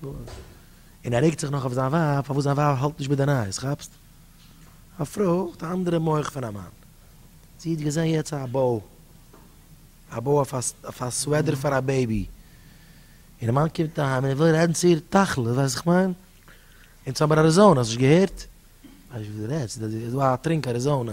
און ער רעגט זיך נאך אויף זיין ווייב פארוואס זיין ווייב האלט נישט מיט די נייעס, כאפסט? א פרוי האט א אנדערע מח פון א מאן. זי האט געזען יעצט א באו, א באו אויף א סוועדער פאר א בעיבי, און די מאן קומט אהיים און ער וויל רעדן צו איר תכלית, ווייסט וואס איך מיין? אין סאמער אריזאנע, האסט נישט געהערט? ווייסט וואס דו רעדסט? ס'איז דא א טרינק אריזאנע.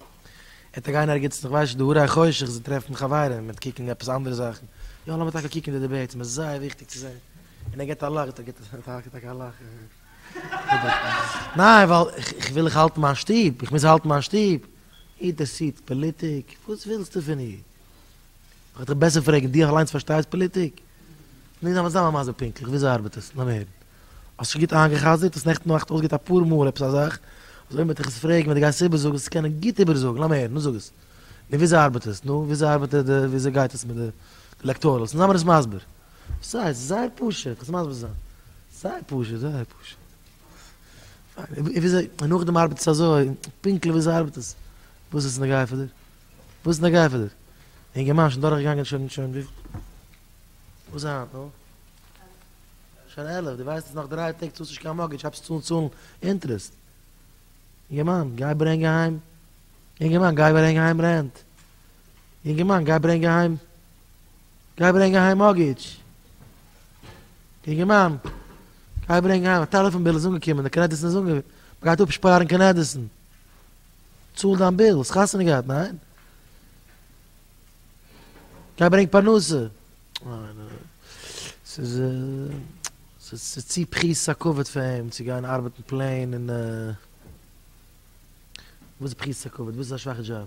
ער האט אגיין ערגעץ זיך וואשן די האר אחרי חושך זיך טרעפן חברים מיט קוקן עפעס אנדערע זאכן יא לאמיר טאקע קוקן די דיבעיטס מ'איז זייער וויכטיג צו זען און ער געט א לאך געט ער טאקע א לאך ניין ווייל איך וויל איך האלטן מיין שטוב איך מוז האלטן מיין שטוב אינטערסירט פאליטיק וואס ווילסטו פון איר איך וועל דיך בעסער פרעגן די אליינס פארשטייסט פאליטיק נישט זיין מסביר פונקטליך וויאזוי ארבעט עס לאמיר הערן האסט שוין גוט איינגעחזרט, האסט נעכטן נאכט אויסגעהערט אפאר מאל עפעס א זאך, אז אויב מען וועט דיך עס פרעגן ווען דו גייסט עס איבערזאגן זאלסטו קענען גוט איבערזאגן, לאמיר הערן, נו זאג עס, נו וויאזוי ארבעט עס, נו וויאזוי ארבעט די וויאזוי גייט עס מיט די עלעקטארעלס, נו זיי מיר עס מסביר, וואס הייסט, ס'איז זייער פשוט, איך זאל מסביר זיין, זייער פשוט, זייער פשוט, פיין, און וויאזוי, און נאכדעם ארבעט עס אזוי, פונקטליך וויאזוי ארבעט עס, וואס איז נוגע פאר דיר, וואס איז נוגע פאר דיר, אינגערמאן שוין דורכגעגאנגען שוין שוין וויפיל, וואס היינט, נו. שוין עלף, דו ווייסט אז נאך דריי טעג צאלסט נישט קיין מארטגעדזש, הייבסט צו צאלן אינטערעסט. אינגערמאן, גיי ברענג אהיים. אינגערמאן, גיי ברענג אהיים רענט. אינגערמאן, גיי ברענג אהיים. גיי ברענג אהיים מארטגעדזש. אינגערמאן, גיי ברענג אהיים. א טעלעפאן ביל איז אנגעקומען, די קרעדיט איז אנגעווען. מ'גייט אפשפארן קרעדיטן. צאל דיין ביל, האסט חתונה געהאט, ניין? גיי ברענג פרנסה. ס'איז ס'איז צו פריס א כבוד פאר אים צו גיין ארבעטן פלעין און. וואס איז פריס א כבוד? וואס איז א שוואכע דזשאב?